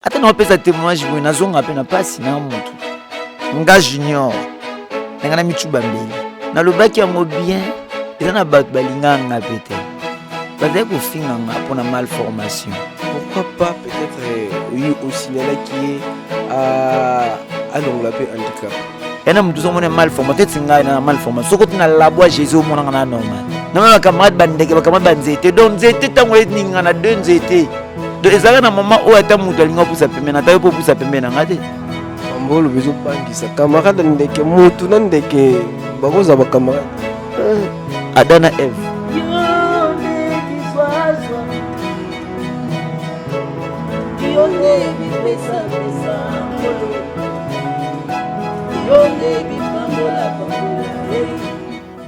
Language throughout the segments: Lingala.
ata naopesa témoignage boye nazonga mpe na mpasi na motu nga junior na ngai na micuba mbeli nalobaki yango bien eza na bato balinga nga mpe te bazali kofinga nga mpo na malformation pourquoi pas peut-être euh, oyi osignalaki ye alongola mpe handicap yana moto ozomona mal forma teti ngai na mal forma soko tina labwa jésus omonaka na normal nanga bacamarade bandeke bacamarade banzete donc nzete ntango eningana de nzete donc ezalaka na mama oyo ata moto alingi apusa pembeni ata yo mpo opusa pembeni nanga te mambo olobi ezobangisa camarade ndeke motu na ndeke bakozala bacamarade eh, ada na eve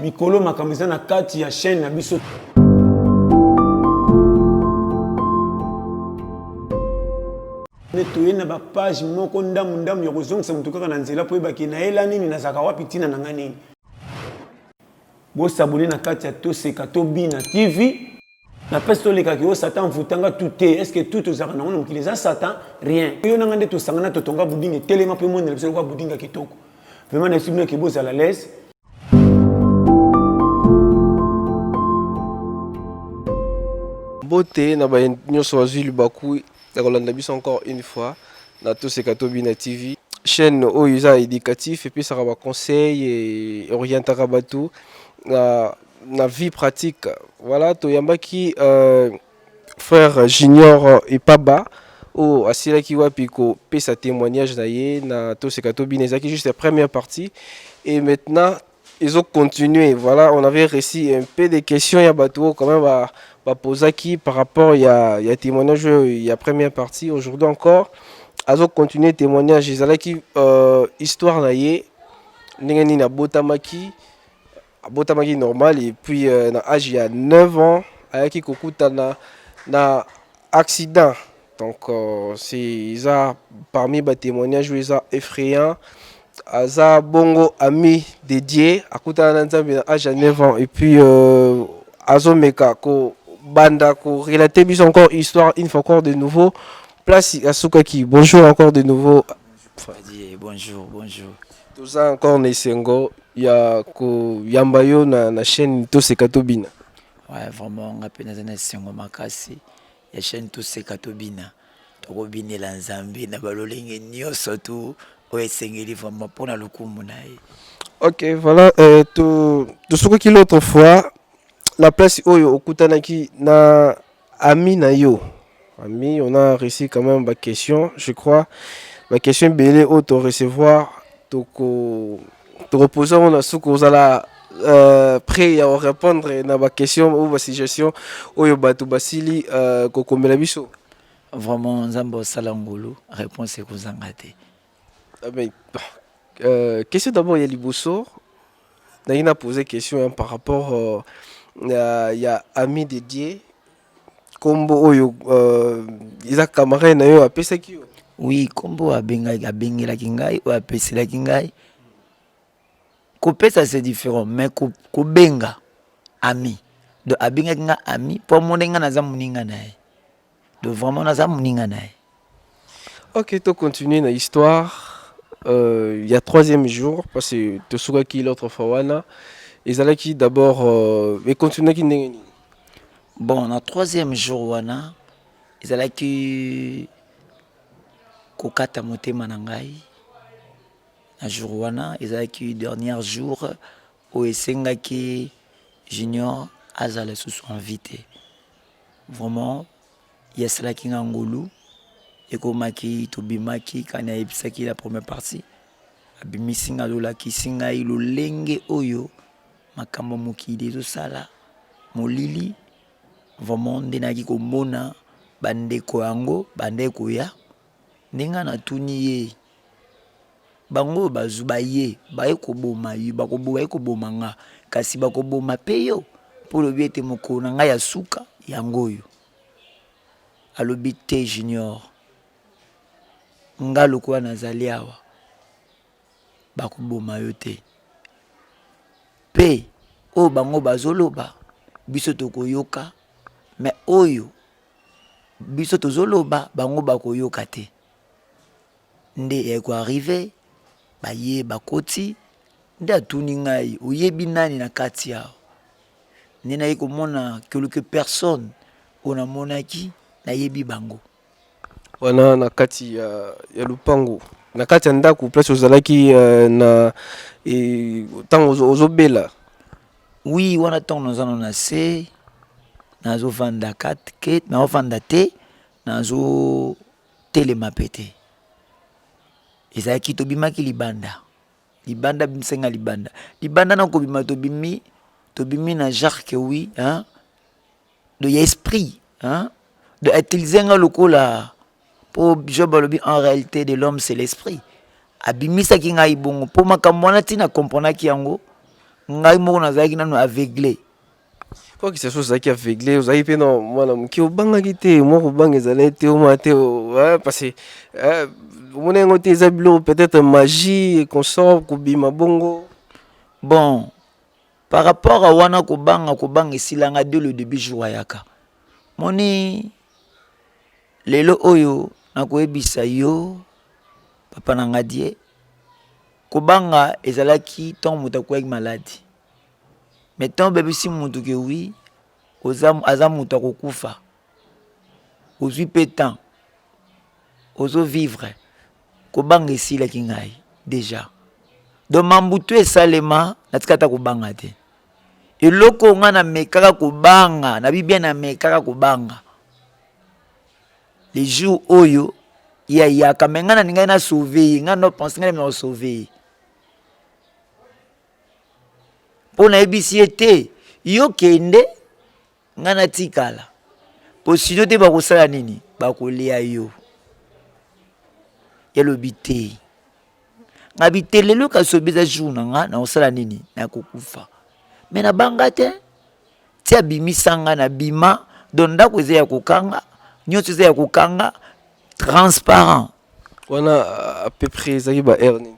mikolo makambo eza na kati ya chaîne na biso nde toye na bapage moko ndambu ndambu ya kozongisa motu kaka na nzela mpo oyebaki nayela nini nazalaka wapi ntina na ngai nini bosabone na kati ya toseka tobina tv na pesi tolekaki yo satan envoutanga tout te est ce que tout tozalaka nango na mokili eza satan rien yo nanga nde tosangana totonga budinga etelema mpe monela biso lokola budinga kitoko vraimen na esibino eke bozala lese bote na baye nyonso bazwi libaku ya kolanda biso encore une fois na toseka tobina tv chaîne oyo eza éducatif epesaka baconseil e orientaka bato na na vie pratique voilà toyambaki euh, frère junior epaba oyo asilaki wapi kopesa témoignage na ye na toseka tobina ezalaki juste la première partie et maintenant ils ont continué voilà on avait reçu un peu de questions ya bato oyo quand même ba- bapozaki par rapport ya, ya témoignage oyo ya première partie aujourd'hui encore azo continuer témoignage ezalaki euh, histoire na ye ndenge nini abotamaki abotamaki normal et puis euh, na âge ya 9 ans ayaki kokutana na accident donc euh, c'est eza parmi ba témoignages oyo eza effrayant aza bongo ami dédié akutana na nzambe na âge ya 9 ans et puis euh, azomeka ko banda ko relater biso encore histoire une fois encore de nouveau place asukaki bonjour encore de nouveau Fadi, bonjour, bonjour. Toza encore na esengo ya koyamba yo na, na chaîne toseka tobina. Ouais, vraiment nga mpe naza na esengo makasi ya chaîne toseka tobina tokobinela nzambe na balolenge nyonso tu oyo esengeli vraiment mpo na lokumu na ye ok voilà euh, tosukaki l'autre fois la place oyo okutanaki na ami na yo ami on a reussi quand même ba question je crois ba question ebele oyo to recevoir toko tokoposa ngo na suka ozala euh, prêt ya orépondre na baquestion ou basuggestion oyo bato basili euh, kokomela biso vraiment nzambe osala ngolu réponse ekozanga te Ah, mais, euh, question d'abord ya liboso nalingi na pose question hein, par rapport euh, ya, ya ami de dieu nkombo oyo euh, eza camarade na yo apesaki yo oui nkombo oyo abengaki abengelaki ngai oyo apeselaki ngai kopesa c'est différent mais ko- kobenga ami donc abengaki ngai ami mpo amonaki ngai naza moninga na ye de vraiment naza muninga na ye ok to continuer na histoire euh, ya troisième jour parce que tosukaki l'autre fois wana ezalaki d'abord euh, econtinuaki ndenge nini bon na troisième jour wana ezalaki kokata motema na ngai na jour wana ezalaki dernier jour oyo esengaki junior azala susu en vie te vraiment ye asalaki nga ngolu ekomaki tobimaki kani ayebisaki la première partie abimisi nga azolakisi ngai lolenge oyo makambo ya mokili ezosala molili vraiment nde nayaki komona bandeko yango bandai koya Nde ngai natuni ye, Bango oyo bazwi baye baye koboma yo, baye koboma ngai, kasi bakoboma mpe yo? Mpo olobi ete mokolo na ngai ya suka yango oyo. Alobi, Te, Junior. Ngai lokola nazali awa, bakoboma yo te. Mpe oyo bango bazoloba, biso tokoyoka, me oyo Biso tozoloba bango bakoyoka te nde eko arrive baye bakoti nde atuni ngai oyebi nani na kati awa nde naye komona quelque personne oyo namonaki nayebi bango wana na kati ya, ya lupangu na kati ya ndako place ozalaki uh, na ntango e, ozobela Oui, wana tango naza no na se nazo vanda kat ke nazo vanda te nazo telema pe te ezalaki tobimaki libanda libanda bisenga libanda libanda na kobima tobimi tobimi na jacques oui hein? do ya esprit hein do utiliser nga lokola po job alobi en réalité de l'homme c'est l'esprit abimisaki ngai bongo po makambo wana ntina comprenaki yango ngai moko nazalaki nano aveugle quoi que ce soit ozalaki aveugle ozalaki mpe na mwana moke obangaki te mwa kobanga ezalaki te omwa te parce que eh, omona yango te eza biloko peut-être magie consort kobima bongo bon par rapport à wana kobanga kobanga esila nga de le début jour ayaka moni lelo oyo nakoyebisa yo papa na nga die kobanga ezalaki ntango moto akweyaki maladi me ntango obebisi moto ke wi aza moto akokufa ozwi mpe temps ozovivre Kobanga esilaki ngai deja. Donc mambu tu esalema natika ata kobanga te. Eloko nga na mekaka kobanga, na bibia na mekaka kobanga. Le jour oyo ye ayaka mais nga na ningaki na sauver ye, nga no pense nga na sauver ye. mpo nayebisi ye te yo kende Nga na tikala. Po sinon te bakosala nini? Bakolia yo. Yalobi te. Nga bitelelo kasobi eza jour na nga na kosala nini? Na kokufa. Mais na banga te. Ti abimisa nga na bima. Donc ndako eza ya kokanga. Nyoso eza ya kokanga. Transparent. Wana à peu près ezaki ba heure nini?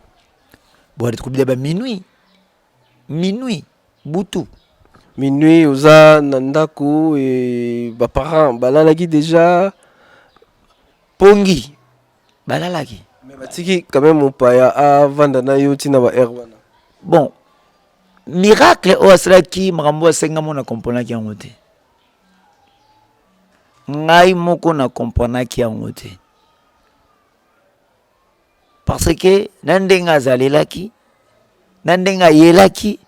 Bon, tokobila ba minuit. Minuit butu. Minuit oza na ndako e, ba parents balalaki deja pongi balalaki mais batiki quand même mopaya avanda na yo ntina ba heure wana bon miracle oyo asalaki makambo oyo asengamo na komponaki yango te ngai moko na komponaki yango te Parce que na ndenge azalelaki, na ndenge ayelaki,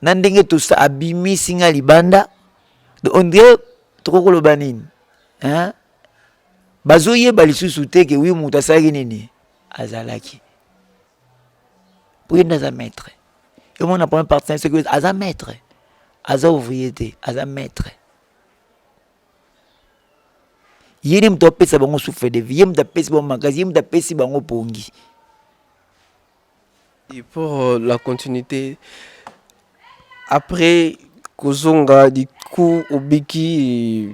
na ndenge tosa abimisi nga libanda, on dirait tokoki koloba nini hein? bazoyeba lisusu te ke wi moto asalaki nini azalaki po ye nde aza maître emona premier partenaire soki aza maître aza ouvrier te aza maître ye nde moto apesa bango souffle de vie ye moto apesi bango makasi ye moto apesi bango pongi Et pour euh, la continuité, après kozonga du coup obiki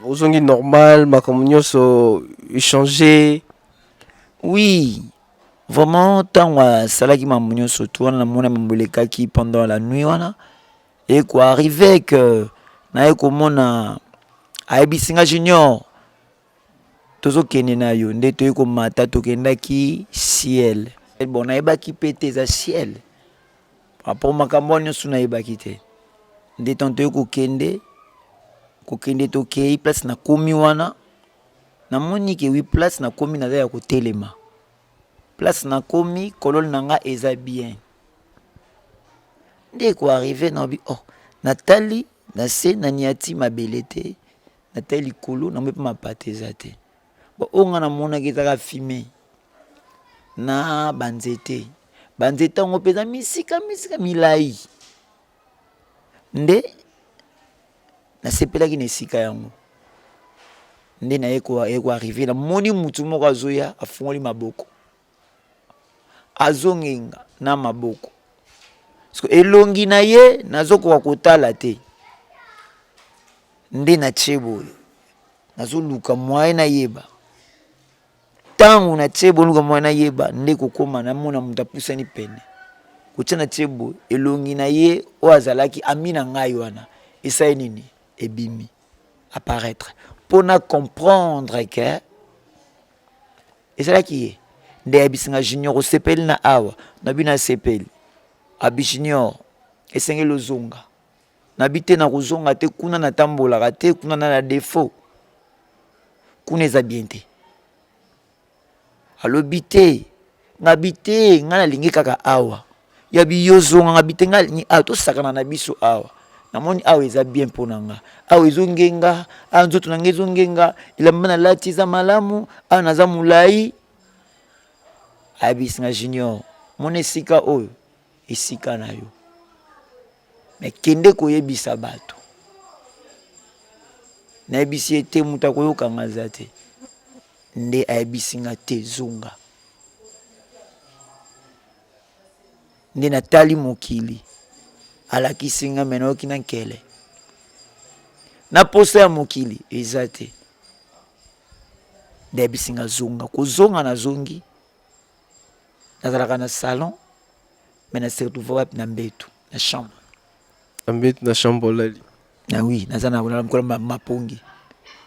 ozongi normal makambo nyonso échanger oui vraiment ntango asalaki mambo nyonso tu wana namona mambo elekaki pendant la nuit wana Eko arrive que naye komona ayebisi nga junior tozokende na yo nde toyei komata tokendaki ciel eh, bon nayebaki mpe te eza ciel apo makambo wana nyonso nayebaki te nde ntango toyei kokende kokende tokei place nakomi wana namoni ke wi place nakomi naza ya kotelema Place na komi kolol na nga eza bien nde ko arrive na obi oh natali na se na niati mabele te natali likolo na mpe mapata eza te bon oyo nga namonaki ezaka fime na banzete banzete yango mpenza misika misika milai Nde nasepelaki na esika yango. Nde naye koarrive na moni mutu moko azoya afungoli maboko azongenga na maboko so elongi na ye nazokoka kotala te nde na ce boye nazoluka mwaye nayeba Ntango natye ebonduka mwa nayeba nde kokoma, namona moto apusani pene kotya na tye boye elongi na ye oyo azalaki ami na ngai wana esali nini ebimi apparaître mpo na comprendre ke ezalaki ye nde ayebisi nga junior osepeli na awa na bino asepeli abi junior esengeli ozonga Na bi te nakozonga te kuna na tambolaka te kuna na na defaut kuna eza bien te alobi te ngabi te ngai nalingi kaka awa ya biyozonga ngabi te ngai alingi awa tosakana na biso awa namoni awa eza bien mpo na nga awa ezongenga awa nzoto na ngai ezongenga elamba nalati eza malamu awa naza molai ayebisi nga junior mona esika oyo esika na yo me kende koyebisa bato nayebisi ye te moto akoyoka nga aza te nde ayebisi nga te zonga nde natali mokili alakisi nga me nayoki na nkele na posa ya mokili eza te nde ayebisi nga zonga kozonga nazongi nazalaka na salon mais na se retrouve wapi na mbetu na chambre na mbetu na chambre olali na ah oui naza na olala mokolo mapongi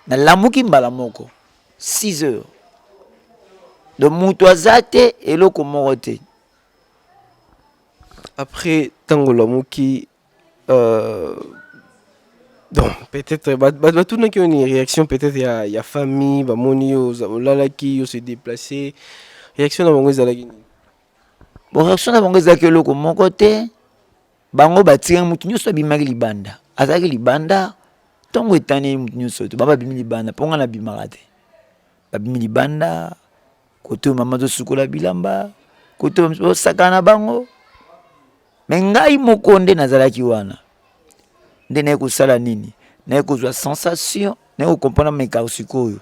nalamuki mbala moko 6 heures donc moto aza te eloko moko te après ntango olamuki Euh, donc peut-être batunaki yo ni réaction peut-être ya, ya famille bamoni yo olalaki yo se déplacer réaction na bango ezalaki nini bon réaction na bango ezalaki eloko moko te bango batikaki motu nyonso abimaki libanda azalaki libanda ntongo etani motu nyonso te bango babimi libanda mpo ngai nabimaka te babimi libanda kote oyo mama azosukola bilamba kote oyo misusu basakana na bango me ngai moko nde nazalaki wana nde naye kosala nini naye kozwa sensation naye kokomprendre meka sikoyo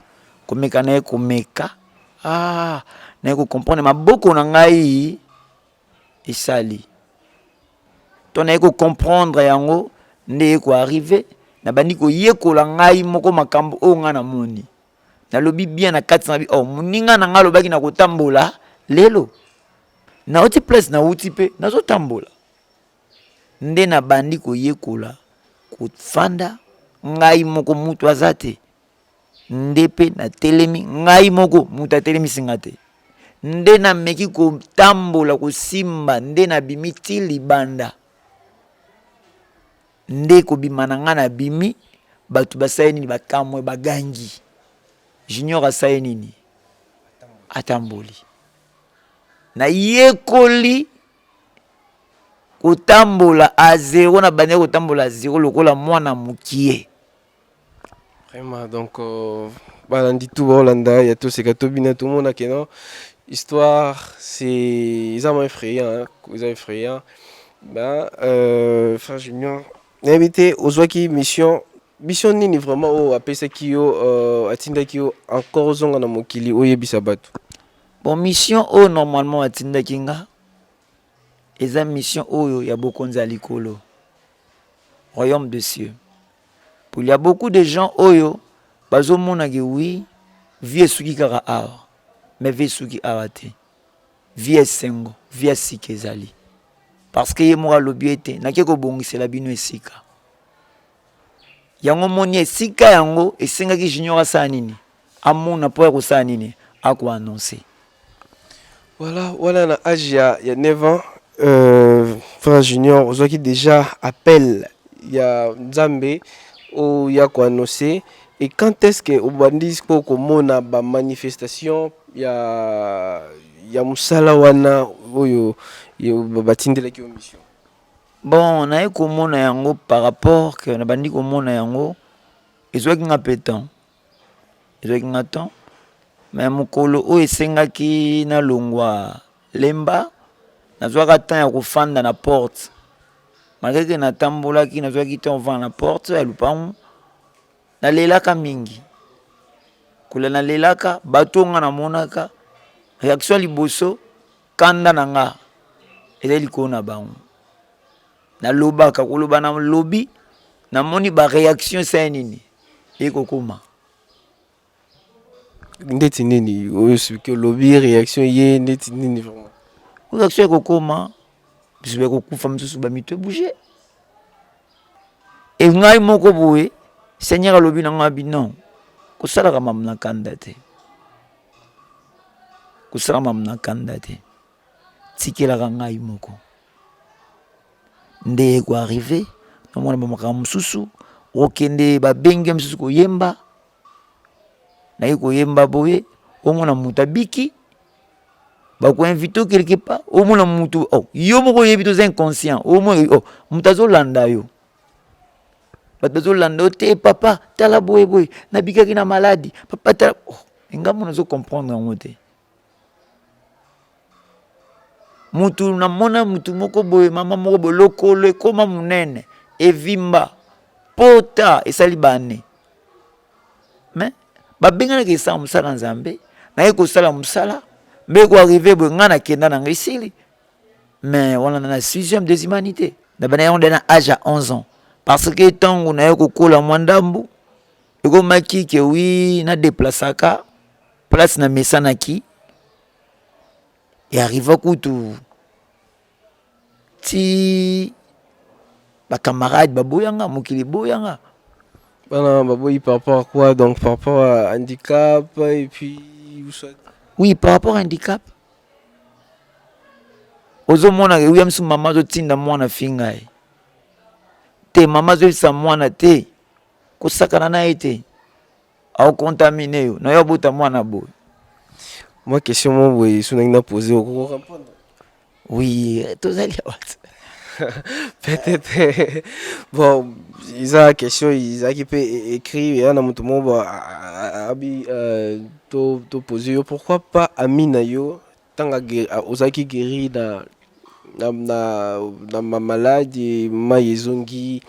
komeka naye komeka ah, naye kokomprendre maboko na ngai esali to naye kokomprendre yango nde ye koarrive nabandi koyekola ngai moko makambo oyo ngai namoni nalobi bien na kati na bi oh moninga na nga alobaki na kotambola lelo nauti place nauti mpe nazotambola nde nabandi koyekola kofanda ngai moko mutu aza te nde mpe natelemi ngai moko mutu atelemisi nga te nde nameki kotambola kosimba nde nabimi ti libanda Nde kobima na nga na bimi batu basali nini bakamwe bagangi junior asali nini atamboli nayekoli kotambola a zero na bande kotambola a zero lokola mwana mokie Vraiment, donc, euh, balandi tout baolanda ya toseka tobina tomona ke non histoire c'est eza mwa effrayant hein, eza effrayant ben euh, frère junior nayebi te ozwaki mission mission nini vraiment oyo apesaki yo euh, atindaki yo encore ozonga na mokili oyebisa bato bon mission oyo normalement atindaki nga Eza mission oyo ya bokonzi ya likolo, royaume de cieux. Pour il ya beaucoup de gens oyo bazo mona ke oui vie esuki kaka awa, mais vie esuki awa te. Vie ya esengo, vie ya sika ezali. Parce que ye moko alobi ete nake kobongisela bino esika. yango moni esika yango esengaki junior asala nini amona mpo ya kosala nini akoannonce voilà wana na age ya, ya 9 ans euh, frère junior ozwaki déjà appel ya nzambe oya koannonce et quand est-ce que obandi mpo komona bamanifestation ya ya mosala wana oyo batindelaki yo mission Bon naye komona yango par rapport que nabandi komona yango ezwaki nga mpe temps ezwaki nga temps mais mokolo oyo esengaki nalongwa lemba nazwaka temps ya kofanda na porte malgre ke natambolaki nazwaki temps kofanda na porte ya lopango nalelaka mingi kolela nalelaka bato oyo nga namonaka reaction ya liboso Kanda na nga ezali likolo na bango. Nalobaka koloba na lobi namoni ba reaction esali nini ekokoma ndeti nini oyo soki olobi reaction ye ndeti nini vraiment reaction ekokoma biso bakokufa mosusu bamito ebouge e ngai moko boye seigneur alobi na ngai binon kosalaka mamu na kanda te kosala mamu na kanda te tikelaka ngai moko nde ekoarrive namona bamakambo mosusu okende babenge mosusu koyemba naye koyemba boye omona moto abiki bakoinvite o quelque part omona moto oh, yo moko oyebi toza inconscient omona oh, moto azolanda yo bato bazolanda yo te papa tala boye boye nabikaki na maladi papa tala oh, engambo nazo comprendre yango te mutu namona mutu moko boye mama moko boye lokolo ekoma monene evimba pota esali bane me babenganaka esala mosala nzambe naye kosala mosala mbe koarrive boye ngai nakenda na ngai esili mais wana na sixième des humanités nabanda yango nde na age ya 11 ans parce que ntango na ye kokola mwa ndambu ekomaki ke wi na deplasaka place na mesanaki earriva kutu ti bacamarade baboyanga mokili eboyanga bana baboyi par rapport à quoi donc par rapport à handicap et puis oui par rapport à handicap ozomona williams mama azotinda mwana finga ye te mama azoyebisa mwana te kosakana na ye te aokontamine yo na yo abota mwana boye mwa question mo boye so nangi na pose okokoka mpona oui tozali awa peut-être bon eza question ezalaki mpe e-, écrit eya na moto moko abi euh, To to poser yo pourquoi pas ami na yo tanga ozaki guéri na na na, na ma malade mai ezongi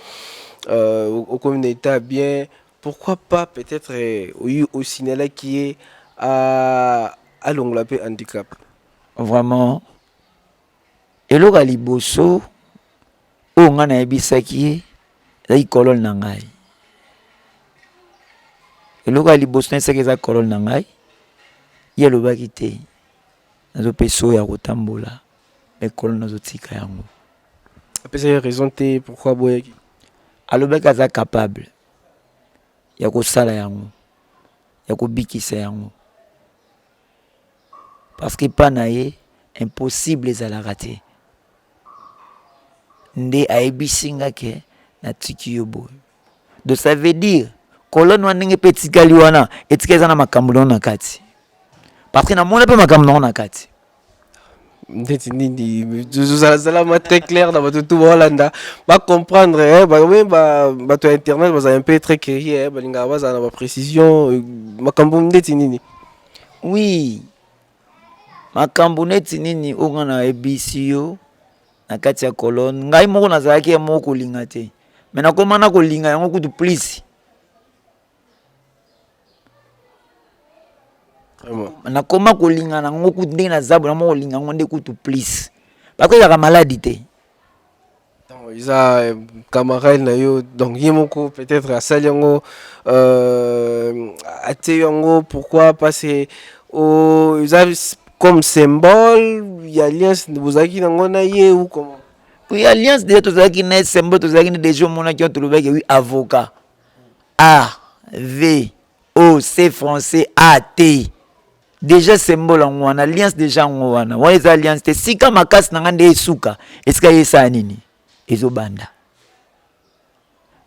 euh, okomi na etat bien pourquoi pas peut-être euh, oyi osignalaki ye alongola mpe handicap vraiment Eloko ya liboso oyo ngai nayebisaki ye ezalaki kolone na ngai. Eloko ya liboso nayebisaki eza kolone na ngai, ye alobaki te nazopesa oyo ya kotambola me kolone nazotika yango. Apesaki raison te pourquoi aboyaki? Alobaki aza capable ya kosala yango, ya kobikisa yango. Parce que epa na ye impossible ezalaka te. Nde ayebisi nga ke natiki yo boye. Donc ça veut dire kolone wana ndenge mpe etikali wana etika eza na makambo na yo na kati. Parce que namona mpe makambo na yo na kati. ndeti nini zalama très clair na bato tu baolanda bacomprendre eh, bato ya internet bazala mpe très curieux eh, balingaka bazala na baprécision euh, makambo ndeti nini oui makambo neti nini oyo ngai nayebisi yo na kati ya kolone ngai moko nazalaki ya moko kolinga te me nakoma na kolinga yango kutu plisi nakoma kolinga na yango kutu ndenge naza bona moko kolinga yango nde kutu plus bako ezalaka maladi te eza camarade na yo donc ye moko peut-être asali yango euh, atie yango pourquoi parce que oh, eza comme symbole ya alliance bozalaki nango na ye ou comment oui alliance deja tozalaki na ye symbole tozalaki nde deja omonaki yo tolobaki oui avocat AVOC français AT dejà symbole yango wana alliance dejà yango wana wana eza alliance te sika makasi na ngai nde esuka esika ye esala nini ezobanda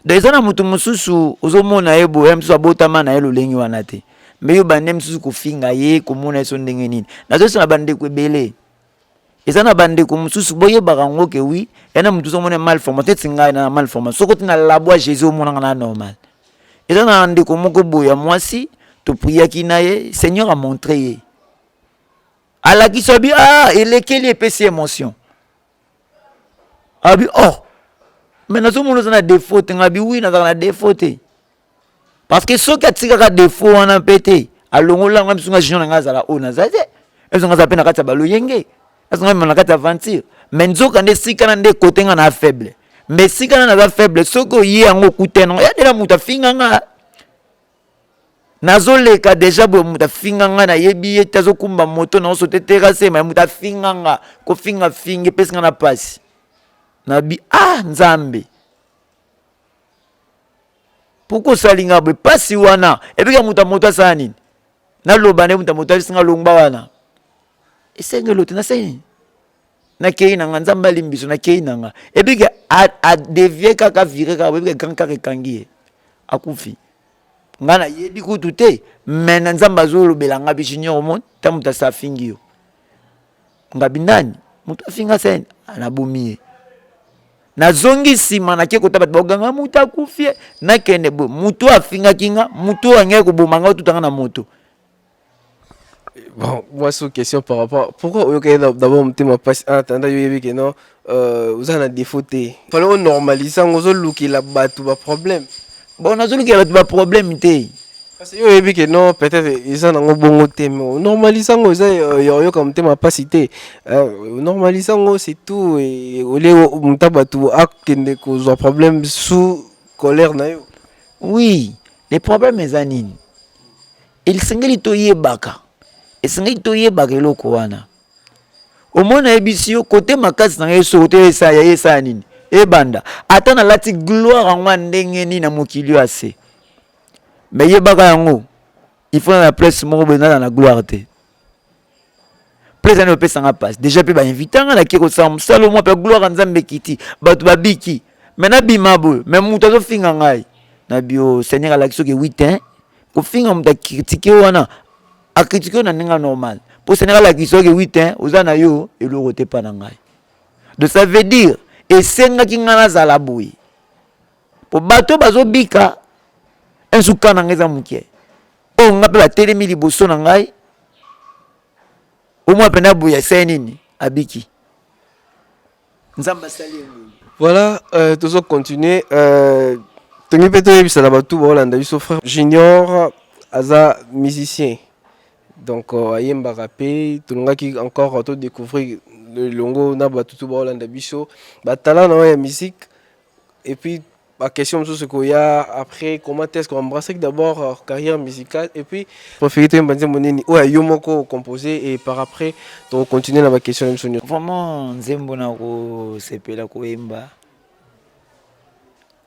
donc eza na moto mosusu ozomona ye boye mosusu abotama na ye lolenge wana te mbe yo bande mosusu kofinga ye komona ye so ndenge nini nazosala bandeko ebele eza na bandeko mosusu boyebaka yango ke wi ya na motusu omona mal forma teti ngai na mal forma soko ti na labwa jésus omonaka na normal eza na ndeko moko boye ya mwasi topriyaki na ye seigneur amontre ye alakisa bi ah elekeli epesi emotion abi oh me nazomona oza na defaut te ngabi wi nazalaka na defaut te parce que soki atikaka defo wana mpe te alongola yango biso nga junior na ngai azala oyo naza te ezo nga aza mpe na kati ya baloyenge ezo nga mema na kati ya aventure mais nzoka nde esika na nde kote nga na faible mais esika na naza faible soki oye yango okutana ya dela moto afinga nga nazoleka deja boye moto afinga nga nayebi ye te azokumba moto naoso te terase ma moto afinga nga kofinga finga epesi nga na mpasi nabi ah nzambe pourkui osali nga boye mpasi wana ebika moto ya moto asala nini naloba nde moto ya moto asinga longba wana esengelo te nasali nakei na nga nzambe alimbiso nakei na nga ebike adevie kaka vire kaka boyebike grand kaka ekangi ye akufi ngai nayebi kutu te me na nzambe azolobela ngai bi junior omoni ntango moto asafingi yo ngabi nani moto afinga sene anabomi ye nazongi nsima nake kota bato baganga moto akufi nakende boye moto oyo afingaki nga moto oyo angaki koboma nga otutanga na moto bon moi sous question par rapport pourquoi oyokaki d'abord motema mpasi en attendant yo oyebi ke non Euh, oza na défaut te. Fallait on normalise yango ozo lukela bato ba problème. Bon nazo lukela bato ba problème te. Parce que yo oyebi que non peut-être eza nango bongo te mais normalise yango eza euh, ya oyoka motema pasi te. Euh, normalise yango c'est tout et au lieu muta bato akende kozwa problème sous colère na yo. Oui, les problèmes eza nini? Esengeli toyebaka. Esengeli toyebaka eloko wana. omoi nayebisi yo kote makasi na ngai soko te esaya ye esaya nini ebanda ata nalati gloire yango ya ndenge nini na mokili oyo ase me yebaka yango ifona na place moko boye naza na gloire te place ani opesa nga mpasi deja mpe bainvite nga nake kosala mosala omwa mpe gloire ya nzambe ekiti bato babiki me nabima boye me moto azofinga ngai na bio seigneur alaki soki 8 kofinga moto akritike wana a critiquer na ndenge normal po Sénégal alakisaki oui te oza na yo eloko te pa na ngai donc ça veut dire esengaki ngai nazala boye po bato bazobika nsuka na ngai eza moke oyo ngai mpe batelemi liboso na ngai omwa mpenza boye asali nini abiki nzambe asali ye nini voilà euh, tozo continuer euh, tongi mpe toyebisa na bato baolanda biso frère junior aza musicien donc euh, ayembaka mpe tolingaki encore to découvrir elongo na bato to baolanda biso batala na oyo ya musique Et puis, ma question mosusu ekoya après comment est-ce qu'on embrasse d'abord euh, carrière musicale et puis préféré toyemba nzembo nini oyo ya yo moko composé et par après tokocontinue na baquestion na biso nyonso vraiment nzembo na kosepela koyemba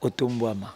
otombwama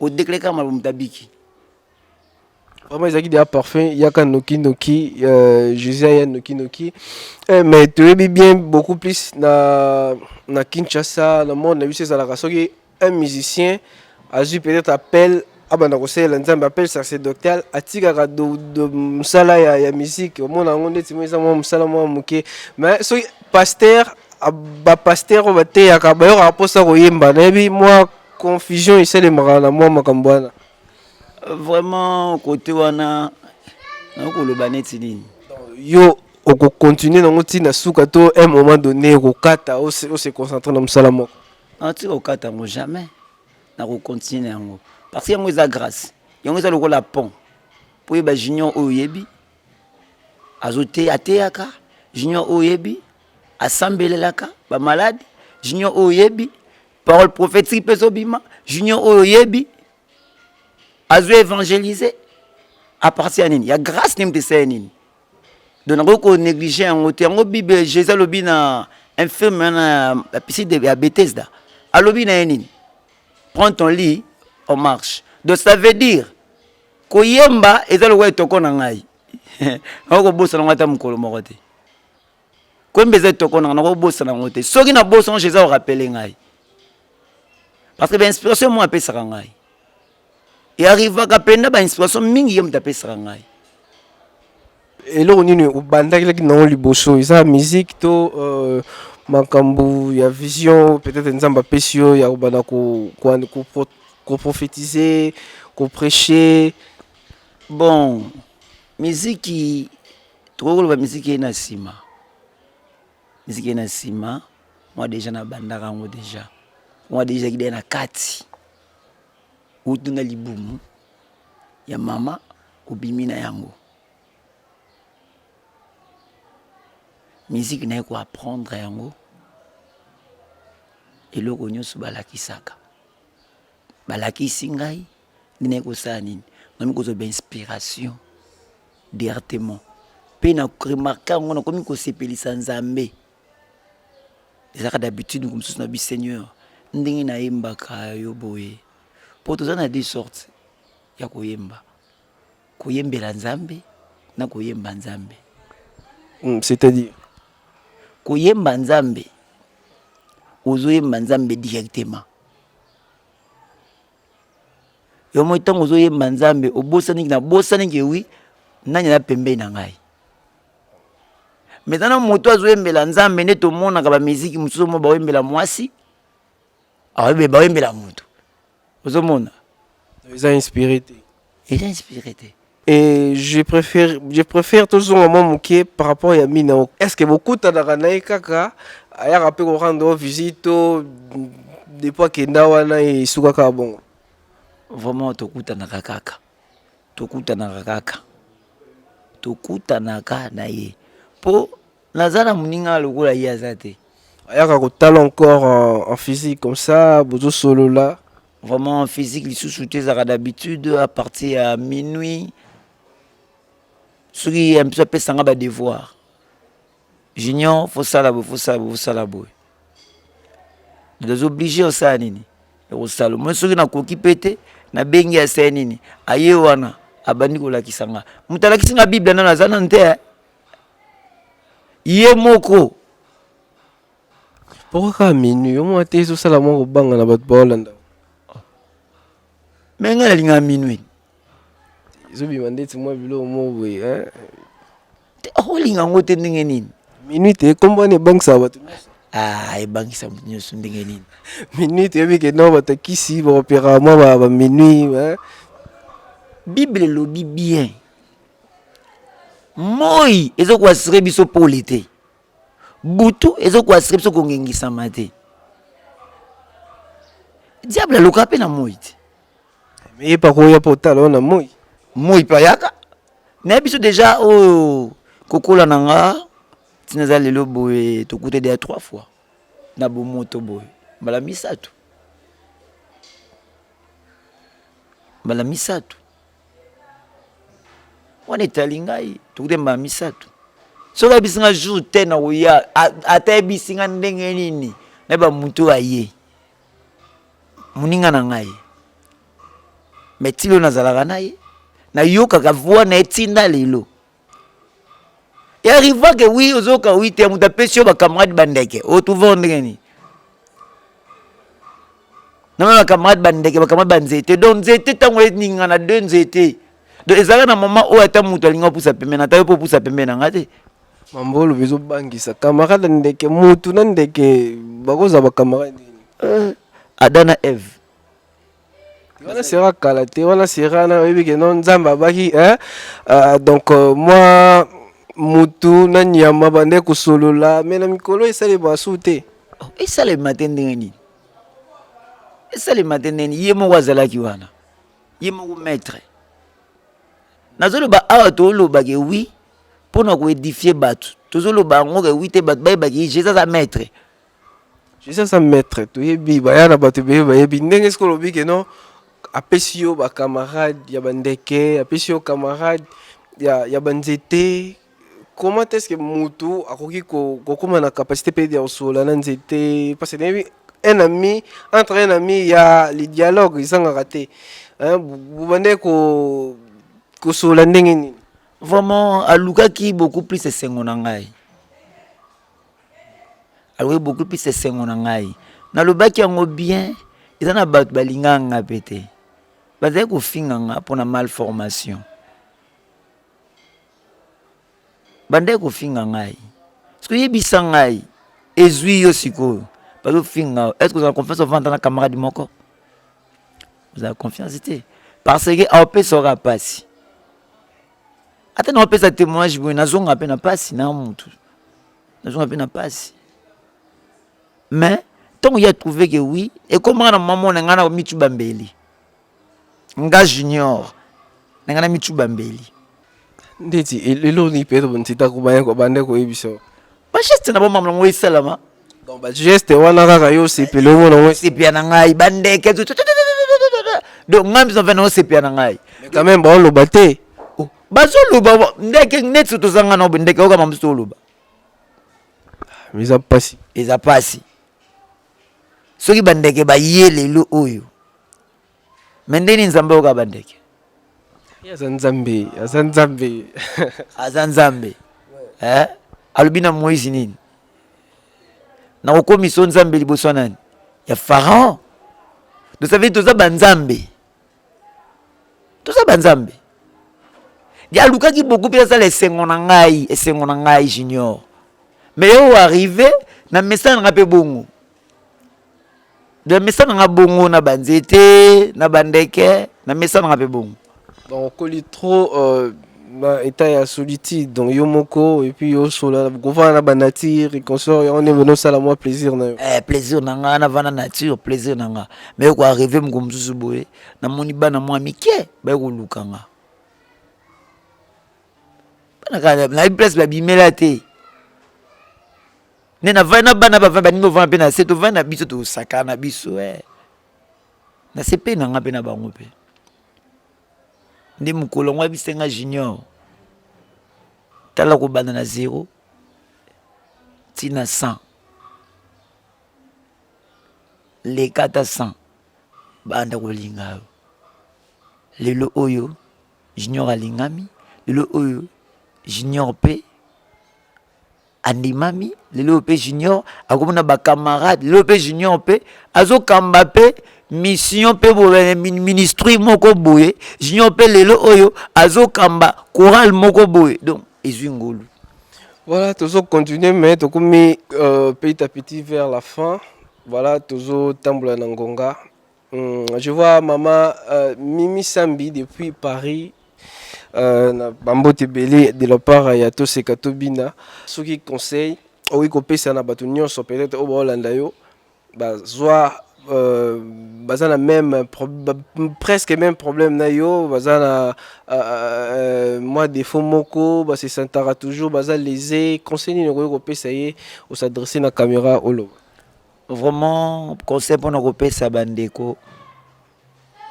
o déclarer kaka maloba moto abiki vraiment ezalaki deja parfum yaka noki noki euh, josé aya noki noki eh, mais toyebi bien beaucoup plus na, na kinshasa na monde na biso ezalaka soki un musicien azwi peut-être appel abanda kosalela nzambe appel sacerdotal atikaka mosala ya, ya musique omona yango ndeti mo eza mwa mosala mwa moke mais soki pasteur bapaster oyo bateyaka bayokaka mposa koyemba nayebi mwa Confusion esalemaka na mwa makambo wana. Vraiment kote wana nakoloba neti nini? Yo okocontinue nango ntina na suka to un moment donné okokata ose concentre na mosala moko? Natika kokata yango jamais, nakocontinue na yango parce que yango eza grâce, yango eza lokola pont mpo oyeba junior oyo oyebi azoteya ateyaka junior oyo oyebi asambelelaka bamaladi junior oyo oyebi parole prophétique mpe ezobima junior oyo oyebi azo évangélise à partir ya nini ya grâce nini tesala ya nini donc nakoki konéglige yango te yango bible jésus alobi na infirme wana ya piside ya bethesda alobi na ye nini prends ton lit on marche donc ça veut dire koyemba eza lokola etoko na ngai okobosana ngo ata mokolo moko te Kwembe eza etoko nanga nako bosana yango te. Soki na bosana je eza rappeler ngai. Parce que ba inspiration moi apesaka ngai. Et arrivaka penda ba inspiration mingi ye moto apesaka ngai. Eloko nini obandaki nango liboso eza musique to euh, makambo ya vision peut-être nzambe apesi yo ya kobanda koprophétise koprêche bon miziki tokoki koloba miziki eye na nsima miziki eye na nsima mwa deja nabandaka yango deja mwa deja ezalaki deja na kati utu na libumu ya mama obimi na yango miziki naye koapprendre yango eloko nyonso balakisaka balakisi ngai ndenge kosala nini nami kozwa ba inspiration directement mpe na remarke yango nakomi kosepelisa nzambe ezalaka d'habitude moko mosusu na bi seigneur ndenge nayembaka yo boye mpo toza na de sorte ya koyemba koyembela nzambe na koyemba nzambe mm, c'est-à-dire koyemba nzambe ozoyemba nzambe directement yo moi ntango ozoyemba nzambe obosani na bosani ke wi nani aza pembei na ngai meza na moto azoyembela nzambe nde tomonaka bamiziki mosusu omo baoyembela mwasi baoyembela moto ozomona eza inspiré te eza inspiré te Et je préfère, je préfère tous au moment mouké par rapport à Minao. Est-ce que beaucoup de Kanaï Kaka, ailleurs après qu'on rendre visite, des fois que Nawana et Soukaka bon. Vraiment, Tokuta Nakakaka. Tokuta Nakakaka. Tokuta Naka Naye. Pour naza na moninga lokola ye aza te ayaka kotala encore en, en physique comme ça bozosolola vraiment en physique lisusu te ezalaka d'habitude à partir ya minuit soki ya biso apesanga badevoir junior fosala boye fosala boye fosala boye nazoblige osala nini ekosala moi soki nakoki mpe te nabengi asala nini aye wana abandi kolakisa nga moto alakisi nga bible nano aza nanu te eh. ye moko pourquoi kaka minui yo mwa te ezosala mwa kobanga na bato baolanda me ngai nalingaka minui ezobima ndeti mwa biloko moko boye olinga yango te ndenge nini minui te nkombo wana ebangisaka bato nyonso ah, ebangisa moto nyonso ndenge nini minui toyebi ke no bato ya kisi baoperaka mwa baminui bible elobi bien Moi ezo ko assurer biso pole te. Butu ezo ko assurer biso kongengisama te. Diable alukaka mpe na moi te. Mais ye pako ya potala wana moi. Moi mpe ayaka. Mais biso deja oyo kokola na nga ntina eza lelo boye tokuta deja trois fois na bomoto boye mbala misato mbala misato wana etali ngai tokuta mbala misato soki ayebisi ngai jour te na koya ata ayebisi ngai ndenge nini nayeba moto oyo aye moninga na ngai me tilo nazalaka na ye nayokaka voi na ye ntina lelo Et arriva que oui, ozoka oui, te muta pesi yo ba camarades bandeke. O tu vendre ni. Na ba camarades bandeke, ba camarades banzete. Donc nzete tango et ninga na deux nzete. Donc ezala na maman oyo ata mutu alinga pusa pembeni, ata yo po pusa pembeni na ngate. Mambolo bezo bangisa camarade ndeke mutu na ndeke bakoza ba camarade. Euh, Adana Eve. wana sera kala te wana sera na oyebi ke no nzambe abaki eh? uh, donc uh, mwa mutu na nyama bande kosolola me na mikolo esalema su te oh, esalema te ndenge nini esalema te ndenge nini ye moko azalaki wana ye moko maître nazoloba awa tolobake wi mpo na koedifie bato tozoloba yango ke wi te bato bayebaki jesus aza maître Jesus aza maître toyebi baya na bato ebele bayebi ndenge soki olobi ke non apesi yo bacamarade ya bandeke apesi yo camarade ya, ya banzete comment est ce que motu akoki kokóma na capacité mpe ya kosolola na nzete parce que nayebi un ami entre un ami ya le dialogue ezangaka te bobandaki ko kosolola ndenge nini vraiment alukaki beaucoup plus esengo na ngai alobi bokopesa esengo na ngai nalobaki yango bien eza na bato balingaka nga mpe te bazali kofinga nga mpo na malformation bandaki kofinga ngai soki oyebisa ngai ezwi yo sikoyo bazofinga est ce que ozala confiance ovanda na camarade moko ozala confiance te parce que aopesa oka mpasi ata na wapesa témoignage boye nazonga mpe na mpasi na motu nazonga mpe na mpasi mais ntango ye atrouve ke wi ekomaka na mama na ngai na mitu bambeli nga junior na ngai na mitu bambeli ndeti eloni mpe ntitakubaya kobanda koyebisa bageste na bomama nango esalama donc bageste wana kaka yo osepeli omona ngo esepela na ngai bandeke donc ngai mbizo mpe na osepela na ngai quand même baoloba te oh, bazoloba ndeke neti tozanga na ndeke okama mbizo oloba ah, eza mpasi eza mpasi soki bandeke baye lelo oyo Mais ndeni Nzambe oyoka ba ndeke. Ye aza Nzambe, aza Nzambe. aza Nzambe. Eh? Alobi na Moïse nini? Na kokomisa yo Nzambe liboso nani? Ya Pharaon. Donc ça veut dire toza ba Nzambe. Toza ba Nzambe. Ye alukaki beaucoup mpe asala esengo na ngai, esengo na ngai junior. Mais yo arrive na message na ngai mpe bongo. namesana nga bongo na banzete na bandeke namesana nga mpe bongo donc okoli trop euh, na état ya solitude donc yo moko et puis osola kovanda na banature et consort yango nde bino osala mwa plaisir na yo eh, plaisir na nga navanda nature plaisir na nga mais oko arrive moko mosusu boye namoni bana mwa mike baye koluka nga bana kaka nayebi place babimela te nde na vandi na bana bavandi baninga ovanda mpe na se tovandi na biso tosakana na biso e eh. na se mpe na nga mpe na bango mpe nde mokolo yango ayebisi nga junior tala kobanda na zero ntina 100 leka ata 100 banda kolinga yo lelo oyo junior alingami lelo oyo junior mpe andimami lelo oyo mpe junior akomona bacamarade lelo mpe junior mpe azokamba mpe mission mpe eh, ministri moko boye junior mpe lelo oyo azokamba chorale moko boye donc ezwi ngolu voilà tozocontinue mais tokomi euh, petit à petit vers la fin voilà tozotambola na ngonga Hum, je vois maman euh, Mimi Sambi depuis Paris. Euh, na bambote ebele de la part ya toseka tobina soki conseil okoki kopesa na bato nyonso peut-être oyo baolanda yo bazwa euh, baza na même pro, ba, presque même problème na yo baza na euh, euh, mwa défaut moko base sentaka toujours baza lese conseil nini okoki kopesa ye osadresse na caméra oloba Vraiment conseil pona ko pesa ba ndeko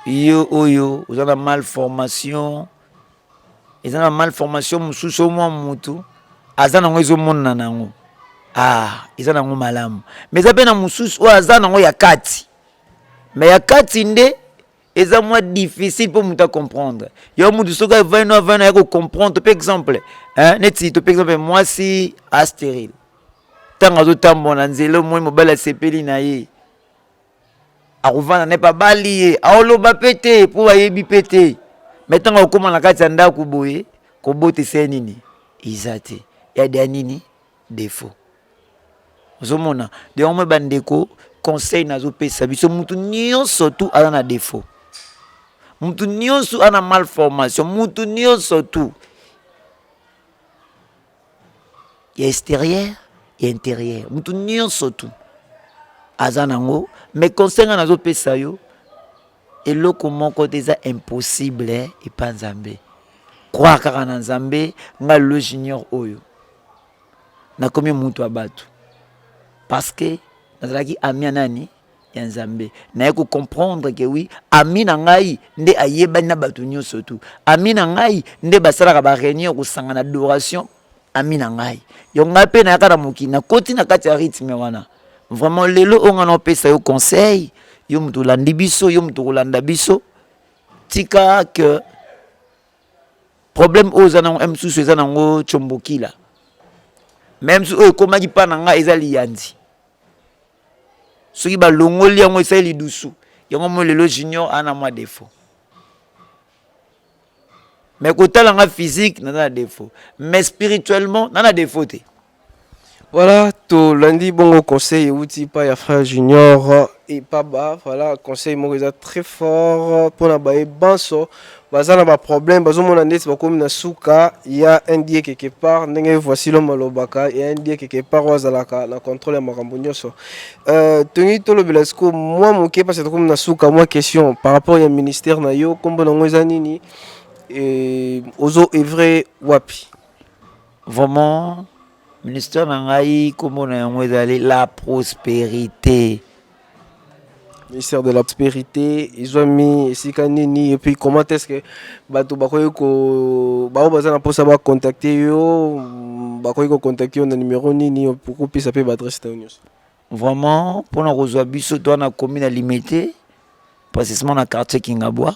yo oyo oza na mal formation eza na mal formation mosusu omwa mutu aza nango ezomonana nango ah eza nango malamu mais eza mpe na mosusu oyo aza nango ya kati mais ya kati nde eza mwa difficile mpo moto acomprendre yo moto soki avani no avani aya kocomprendre mpe exemple neti to mpe exemple mwasi asterile ntango azotambola na nzela omoi mobali asepeli na ye akovanda na ye mpe abali ye aoloba mpe te mpo bayebi mpe te mai ntango akokóma na kati ya ndako boye kobotisa ye nini eza te yade ya nini defaut ozomona yango mwe bandeko conseil nazopesa biso mutu nyonso tu aza na defaut mutu nyonso ana malformation mutu nyonso tu ya extérieur ya intérieur mutu nyonso tu aza nango mais conseil nga nazopesa yo Eloko moko te eza impossible epa Nzambe. Croire kaka na Nzambe, nga Lelo Junior oyo. Nakomi mutu ya batu. Parce que nazalaki ami ya nani? ya Nzambe. Naye ko comprendre que oui, ami na ngai nde ayebani na batu nyoso tout. Ami na ngai nde basalaka ba reunion kosangana adoration ami na ngai donc ngai mpe nayaka na mokili nakoti na kati ya rythme wana vraiment lelo oyo ngai naopesa yo conseil yo moto olandi biso yo moto okolanda biso tika que problème oyo oza nango eh, mosusu eza nango combokila me mosusu oyo ekomaki mpa na ngai eza liyanzi soki balongoli yango esali lidusu yango moi lelo junior ana mwa defaut mais kotala nga physique naza na défaut mais spirituellement na na défaut te voilà tolandi bongo conseil euti epai ya frère junior epaba voilà conseil moko eza très fort mpona baye banso baza na baproblème bazomona ndeti bakomi na suka ya ndie quelque part ndenge voici lome alobaka ya ndie quelque part oyo azalaka na contrôle ya makambo nyonso Euh, toni tolobela sikoyo mwa moke mpasi tokomi na suka mwa question par rapport ya ministère na yo nkombo nango eza nini e, ozo evre wapi vraiment ministère na ngai nkombo na yango ezali la prospérité ministère de la prosperité ezwami esika nini et puis comment est ce que bato bakoki ko bango baza na mposa bacontacte yo mm, bakoki kocontacte yo na numero nini okopesa mpe baadresse na yo nyonso vraiment mpo na kozwa biso toa na komi na limete precisement na quartier kingabwa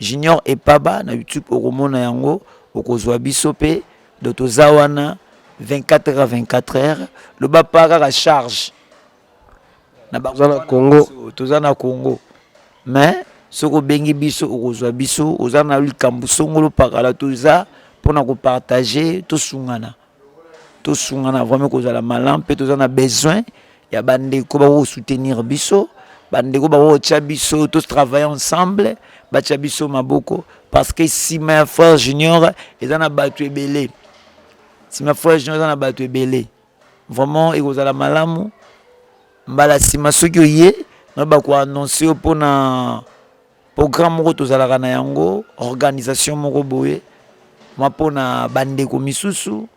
Junior epaba na youtube okomona yango okozwa biso pe donc toza wana 24 heures à 24 heures loba pa kaka charge na ba Toza na bana Congo. biso, toza na congo mais soki obengi biso okozwa biso oza na likambo songolo pakala toza mpona kopartage tosungana tosungana vraiment kozala malam mpe toza na besoin ya bandeko bakosoutenir biso bandeko bakotya biso totravaille ensemble batya biso maboko parce que nsima ya frère junior eza na bato ebele nsima ya frère junior eza na bato ebele vraiment ekozala malamu mbala nsima soki oye na bakoannonce yo mpona Programme moko tozalaka na yango, organisation moko boye, ma mpo na bandeko misusu.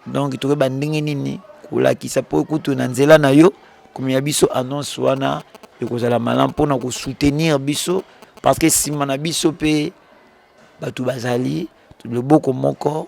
Donc toyeba ndenge nini kolakisa mpo kutu na nzela na yo komema biso annonce wana ekozala malamu mpo na kosoutenir biso parce que nsima na biso mpe bato bazali loboko moko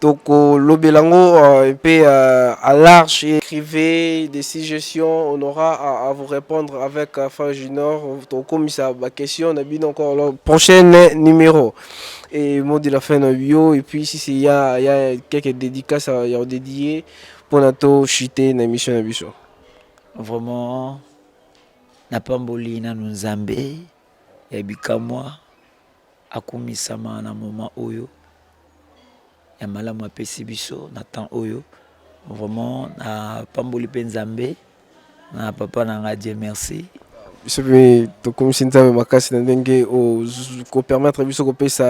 tokolobela yango euh, mpe euh, à large écrivez des suggestions on aura à, à vous répondre avec euh, fin junior tokomisa baquestion na bino encore le prochain numéro et mot de la fin na bio et puis si c'est ya ya quelques dédicaces ya odédier mpo na to chute na émission na biso vraiment napamboli nanu nzambe ya bikamwa Akumisama na moment oyo ya malamu apesi biso na temps oyo vraiment na pamboli mpe nzambe na papa na ngai Dieu merci biso mpe tokumisi nzambe makasi na ndenge kopermettre biso kopesa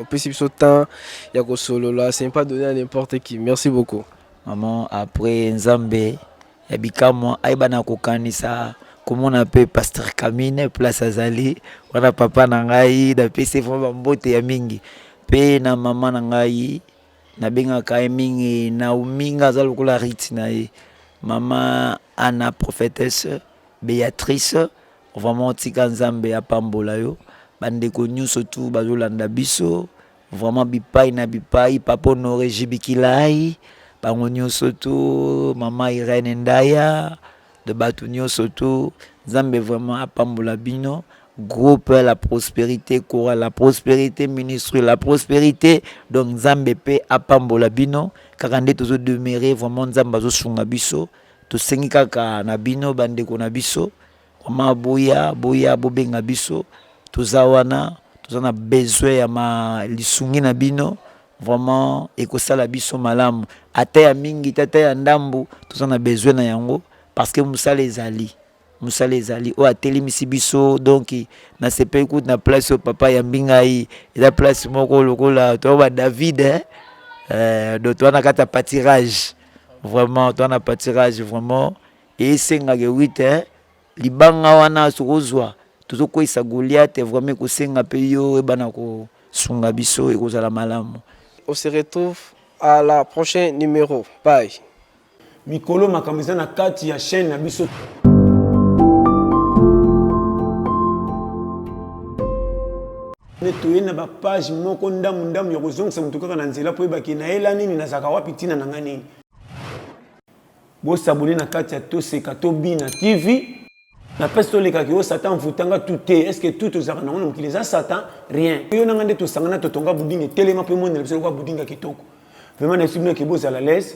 opesi biso temps ya kosolola c'est pas donné à n'importe qui merci beaucoup maman après nzambe ya bikamwa ayeba na kokanisa komona mpe pasteur camine place azali wana papa na ngai napesi vraimen bambote ya mingi mpe na mama na ngai nabengaka ye mingi naominga aza lokola rite na ye mama ana prophetese beatrice vraiment tika nzambe apambola yo bandeko nyonso tu bazolanda biso Vraiment bipai na bipai papa Honore Jibikilai bango nyoso tu mama Irene Ndaya de batu nyoso tu Nzambe vraiment apambola bino groupe la prosperite kora la prosperite ministre la prosperite donc Nzambe pe apambola bino kaka nde tozo demeurer vraiment Nzambe azosunga biso tosengi kaka na bino bandeko na biso Maman boya boya bobenga biso toza wana toza na besoin ya ma lisungi na bino vraiment ekosala biso malamu ata ya mingi te ata ya ndambu toza na besoin na yango parce que mosala ezali mosala ezali oyo atelemisi biso donc nasepeli kutu na place oyo papa yambi ngai eza place moko lokola toa ba david eh? Euh, donc toa na kati ya patirage vraiment toa na patirage vraiment Esengake oui tein libanga wana soki ozua tozo kweyisa Goliath vraiment ekosenga pe yo oyebana ko sunga biso ekozala malamu. On se retrouve à la prochain numero bye. Mikolo makambo eza na kati ya chaine na biso. Nde toye na ba page moko ndamu ndamu ya kozongisa mutu kaka na nzela po oyeba ke nayela nini nazalaka wapi tina na ngai nini. Bo s'abonner na kati ya Toseka to Bina TV. Na pesi tolekaki yo satan avutanga tu te est ce que tu tozalaka nango na mokili eza satan rien yo nanga nde tosangana totonga budinga etelema mpe monela biso lokola budinga kitoko vraimen nayebisi bino eke bozala lese